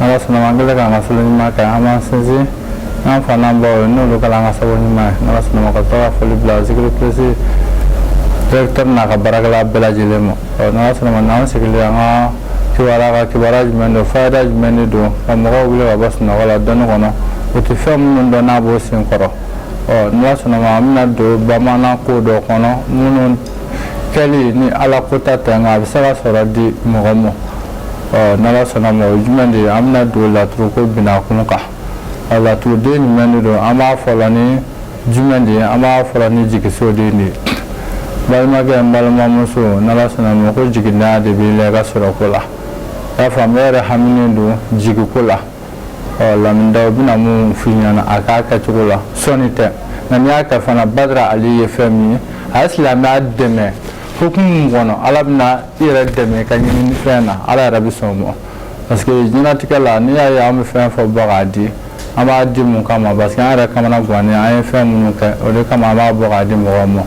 n'ala sɔnna ma an kɛlen k'an ka seli ɲuman kɛ an b'an sinsin an fa n'an baw ye n'olu kɛla an ka sabu ɲuman ye n'ala sɔnna ma ka to ka foli bila zikiri plus directeur n'a ka baarakɛla bɛɛ lajɛlen ma ɔ n'ala sɔnna ma n'an sigilen an ka kibaruya kan kibaruya jumɛn don fayida jumɛn de don ka mɔgɔw wuli ka bɔ sunɔgɔ la dɔnni kɔnɔ u tɛ fɛn minnu dɔn n'a b'o sen kɔrɔ ɔ n'ala sɔnna ma an bɛna don bamanan ko dɔ kɔnɔ minnu kɛli ni ala ko ta tɛ nka a bɛ se ka sɔrɔ di mɔgɔ ma ɔ n'ala sɔnna ma o jumɛn de ye an bɛna don laturoko binakun kan ɔ laturuden jumɛn de don an b'a fɔ la ni jumɛn de ye an b'a fɔ la ni jigisoden de ye balimakɛ n balimamuso n'ala sɔnna ma ko jiginda de b'i la i ka sɔrɔko la i y'a faamu e yɛrɛ haminen don jigiko la ɔ laminida u bɛna mun f'i ɲɛna a k'a kɛcogo la sɔnni tɛ nka n'i y'a kɛ fana badara ali ye fɛn min ye a ye silamɛya dɛmɛ hukumu kɔnɔ ala bɛna i yɛrɛ dɛmɛ ka ɲini fɛn na ala yɛrɛ bɛ sɔn ma parce que jɛnatigɛ la n'i y'a ye an bɛ fɛn fɔ bɔ k'a di an b'a di mun kama parce que an yɛrɛ kamanagannen an ye fɛn minnu kɛ o de kama an b'a bɔ k'a di mɔgɔw ma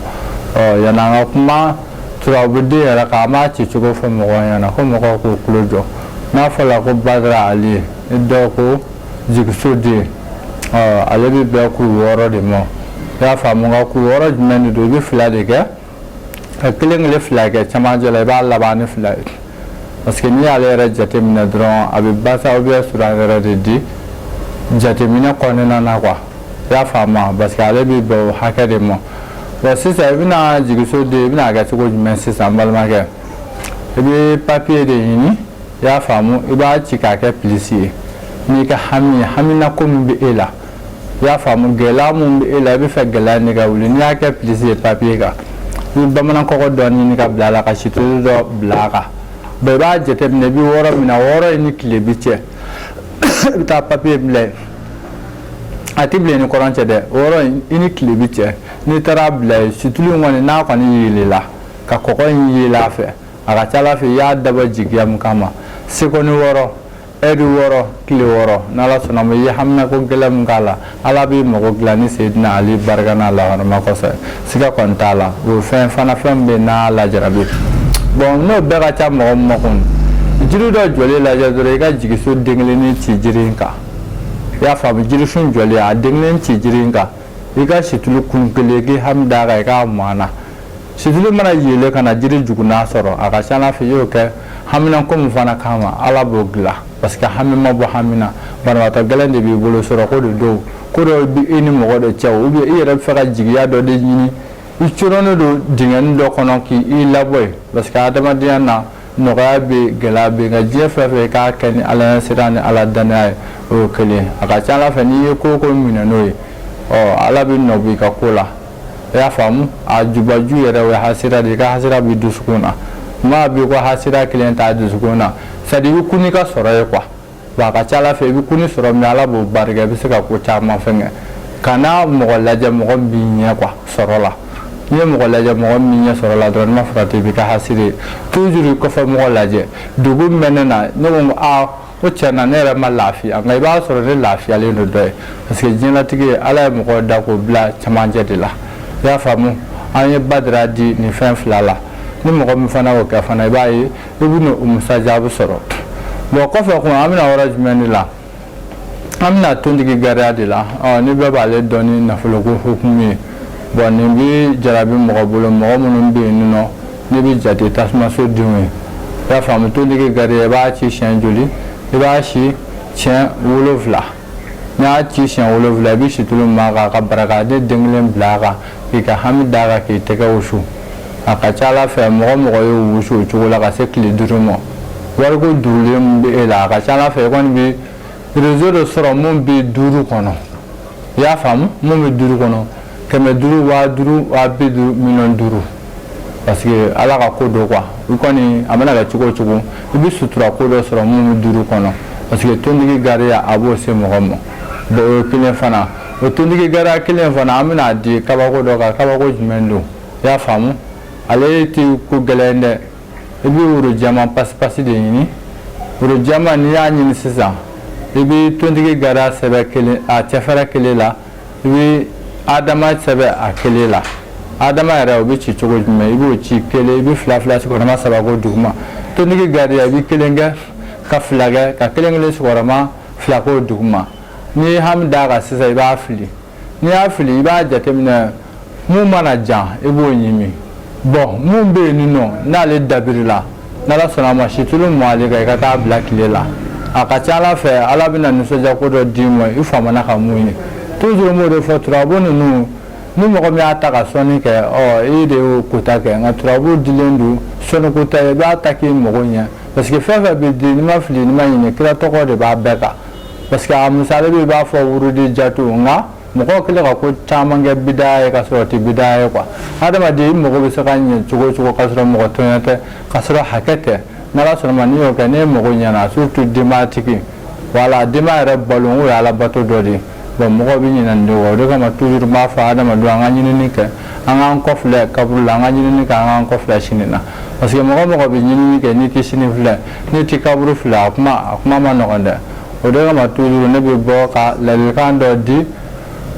ɔ yanni an ka kuma turabuden yɛrɛ kan an b'a ci cogo fɔ mɔgɔw ɲɛna ko mɔgɔw k'u tulo jɔ n'a fɔla ko badara ali ye i dɔw ko jigiso den ɔ ale bɛ bɛn kuru wɔɔrɔ de ma i y'a faamu nka kuru wɔɔrɔ jumɛn de don i bɛ fila de kɛ ka kelen kelen fila kɛ cɛmancɛ la i b'a laban ni fila ye parce que n'i y'ale yɛrɛ jateminɛ dɔrɔn a bɛ basa ou bien sura yɛrɛ de di jateminɛ kɔnɔna na quoi i y'a faamu parce que ale bɛ bɛn o hakɛ de ma bon sisan i bɛna jigisoden i bɛna kɛ cogo jumɛn sisan n balimakɛ i bɛ papiye de ɲini i y'a faamu i b'a ci k'a kɛ pilisi ye n'i ka hami ye haminako min bɛ e la i y'a faamu gɛlɛya mun bɛ e la i b'a fɛ gɛlɛya nin ka wuli n'i y'a kɛ pilisi ye papiye kan i bɛ bamanankɔgɔ dɔ ɲini ka bila a la ka situlu dɔ bila a kan bɔn i b'a jateminɛ i bɛ yɔrɔ min na yɔrɔ in ni tilebin cɛ i bɛ taa papiye bila yen a tɛ bila i ni kɔrɔn cɛ dɛ yɔrɔ in i ni tilebin cɛ n'i taara bila yen situlu in kɔni n'a kɔni yeelela ka kɔgɔ in yeele a fɛ a ka ca ala fɛ i y'a dabɔ jigiya min kama sekɔni wɔɔrɔ ɛri wɔɔrɔ tile wɔɔrɔ n'ala sɔnna ma ye hamina ko gɛlɛn min k'a la ala b'i mago dilan ni sedina ali barika n'a lahɔrɔma kosɔn siga kɔni t'a la o fɛn fana fɛn bɛɛ n'a lajarabi bɔn n'o bɛɛ ka ca mɔgɔ makun jiri dɔ jɔlen lajɛ dɔrɔn i ka jigiso den kelen nin ci jiri in kan i y'a faamu jirisun jɔlen a den kelen ci jiri in kan i ka situlu kun kelen k'i hami d'a kan i k'a mu a na situlu mana yeele ka na jiri jukunan sɔrɔ a ka ca ala fɛ i y'o kɛ haminan ko min fana kama ala b'o dilan parce que hami ma bɔ hami na banabaatɔ gɛlɛn de b'i bolo sɔrɔ ko de don ko dɔ bɛ i ni mɔgɔ dɔ cɛ ou bien i yɛrɛ b'a fɛ ka jigiya dɔ de ɲini i coronnen don dingɛni dɔ kɔnɔ k'i i labɔ yen parce que adamadenya na nɔgɔya bɛ gɛlɛya bɛ ka diɲɛ fɛn fɛ k'a kɛ ni ala sira ni ala dannaya ye o ye kelen a ka ca ala fɛ n'i ye ko ko minɛ n'o ye ɔ ala bɛ nɔ b'i ka ko la i y'a faamu a jubaju yɛrɛ o ye hasira de i ka hasira b'i dusukun na maa b'i kɔ hasira kelen t'a dusukun na c'est-à-dire i kɔni ka sɔrɔ ye quoi wa a ka ca ala fɛ i bɛ kun sɔrɔ min ala b'o barika i bɛ se ka ko caman fɛn kɛ kana mɔgɔ lajɛ mɔgɔ b'i ɲɛ quoi sɔrɔ la n'i ye mɔgɔ lajɛ mɔgɔ min ɲɛ sɔrɔ la dɔrɔn ma fara tɛ i bɛ ka hasiri ye toujours kɔfɛ mɔgɔ lajɛ dugu mɛn ne na ne ko aa ko cɛ na ne yɛrɛ ma lafiya nka i b'a sɔrɔ ne lafiyalen don dɔ ye parce que diɲɛlatigɛ ye ala ye mɔgɔ da k'o bila camancɛ de la i y'a faamu an ye badara di nin fɛn fila la ni mɔgɔ min fana y'o kɛ fana i b'a ye i bɛna o musajaabi sɔrɔ bon kɔfɛ kun an bɛ na yɔrɔ jumɛn de la an bɛ na tontigi gariya de la ɔ ni bɛɛ b'ale dɔn ni nafoloko hukumu ye bon nin bɛ jarabi mɔgɔ bolo mɔgɔ minnu bɛ yen nɔ ne bɛ jate tasumaso denw ye i y'a faamu tontigi gariya i b'a ci siɲɛ joli i b'a ci siɲɛ wolonfila N'i y'a ci siɲɛ wolonwula i bɛ situlu mɔ a kan ka barakante den kelen bila a kan k'i ka hami d'a kan k'i tɛgɛ wusu a ka ca ala fɛ mɔgɔ mɔgɔ ye wusu o cogo la ka se tile duuru ma wariko duurulen bɛ e la a ka ca ala fɛ i kɔni bɛ réseau dɔ sɔrɔ min bɛ duuru kɔnɔ i y'a faamu min bɛ duuru kɔnɔ kɛmɛ duuru waa duuru waa bi duuru miliyɔn duuru parce que ala ka ko dɔ quoi i kɔni a mana kɛ cogo o cogo i bɛ sutura ko dɔ sɔrɔ min bɛ duuru kɔnɔ parce que tontigi gariya a b'o se mɔgɔ ma bon o ye kelen fana o tontigi gariya kelen fana an bɛna a di kabako dɔ kan kabako jumɛn don i y'a faamu ale tɛ ko gɛlɛn dɛ i bɛ woro jɛman pasipasi de ɲini woro jɛman n'i y'a ɲini sisan i bɛ tontigi gariya sɛbɛn kelen a cɛfɛrɛ kelen la i bɛ adama sɛbɛn a kelen la adama yɛrɛ o bɛ ci cogo jumɛn i b'o ci kelen i bɛ fila fila sigiyɔrɔma saba k'o duguma tontigi gariya i bɛ kelen kɛ ka fila kɛ ka kelen kelen sigiyɔrɔma fila k'o duguma n'i ye hami d'a kan sisan i b'a fili n'i y'a fili i b'a jateminɛ mun mana jan i b'o ɲimi bon mun bɛ yen nin nɔ n'ale dabirila n'ala sɔnna a ma situlu mɔ ale kan i ka taa bila tile la a ka ca ala fɛ ala bɛna nisɔndiya ko dɔ d'i ma i famana ka mun ye toujours n b'o de fɔ turabu ninnu ni mɔgɔ min y'a ta ka sɔnni kɛ ɔ i de y'o kota kɛ nka turabu dilen don sɔnni ko t'a ye i b'a ta k'i mago ɲɛ parce que fɛn fɛn bɛ di n'i ma fili n'i ma ɲinɛ kira tɔgɔ de b'a bɛɛ kan parce que a misali bɛ i b'a fɔ wurudi jatu nka mɔgɔw kɛlen ka ko caman kɛ bida ye ka sɔrɔ o tɛ bida ye quoi hadamaden i mago bɛ se ka ɲɛ cogo o cogo ka sɔrɔ mɔgɔ tɔɲɔ tɛ ka sɔrɔ hakɛ tɛ n'ala sɔnna ma n'i y'o kɛ n'e mago ɲɛna surtout denbayatigi wala denbaya yɛrɛ balo o y'ala bato dɔ de ye bon mɔgɔw bɛ ɲinɛ nin de kɔ o de kama toujours n b'a fɔ hadamadenw an ka ɲinini kɛ an k'an kɔfilɛ kaburu la an ka ɲinini kɛ an k'an kɔfilɛ sini na parce que mɔgɔ mɔgɔ bɛ ɲinini kɛ n'i tɛ sini filɛ n'i tɛ kaburu filɛ a kuma a kuma ma nɔgɔn dɛ o de kama toujours ne bɛ bɔ ka ladilikan dɔ di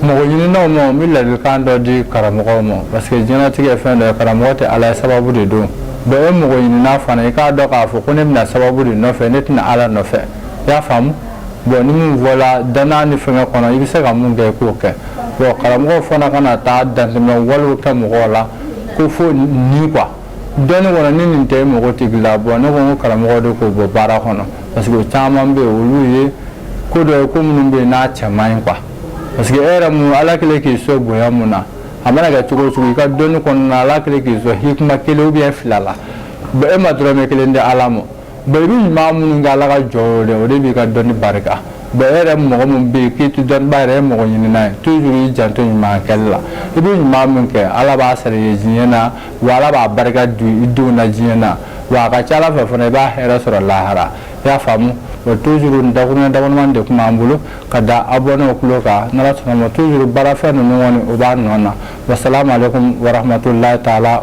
mɔgɔ ɲininaw ma n bɛ ladilikan dɔ di karamɔgɔw ma parce que diɲɛlatigɛ ye fɛn dɔ ye karamɔgɔ tɛ ala ye sababu de don bon e mɔgɔ ɲinina fana i k'a dɔn k'a fɔ ko ne bɛ na sababu de nɔfɛ ne tɛ na ala nɔfɛ i y'a faamu bon ni min fɔla dannaya ni fɛngɛ kɔnɔ i bɛ se ka mun kɛ i k'o kɛ bon karamɔgɔw fana kana taa dantɛmɛ walew kɛ mɔgɔw la ko fo ni quoi dɔnni kɔnɔ ni nin tɛ i mago tɛ dila bon ne ko n ko karamɔgɔw de k'o bɔ baara kɔnɔ parce que o caman bɛ yen olu ye ko dɔ ye ko minnu bɛ yen n'a cɛ man ɲi quoi parce que e yɛrɛ mun ala kɛlen k'i sɔn bonya mun na a mana kɛ cogo o cogo i ka dɔnni kɔnɔna na ala kɛlen k'i sɔn hikima kelen ou bien fila la bon e ma dɔrɔmɛ kelen di ala ma bon i bɛ ɲuman minnu kɛ ala ka jɔnw ye o de b'i ka dɔnni barika bon e yɛrɛ mɔgɔ min bɛ yen k'i tɛ dɔnniba yɛrɛ ye mɔgɔ ɲinina ye toujours i janto ɲuman kɛli la i bɛ ɲuman min kɛ ala b'a sara i ye diɲɛ na wa ala b'a barika don i denw na diɲɛ na wa a ka ca ala fɛ fana i b'a hɛrɛ sɔrɔ lahara i y'a faamu bon toujours da dama de tun b'an bolo ka da abonnés tulo kan n'ala sɔnna toujours baarafɛn ninnu o b'a nɔ na wasalamu alaikum warahmatullahi taala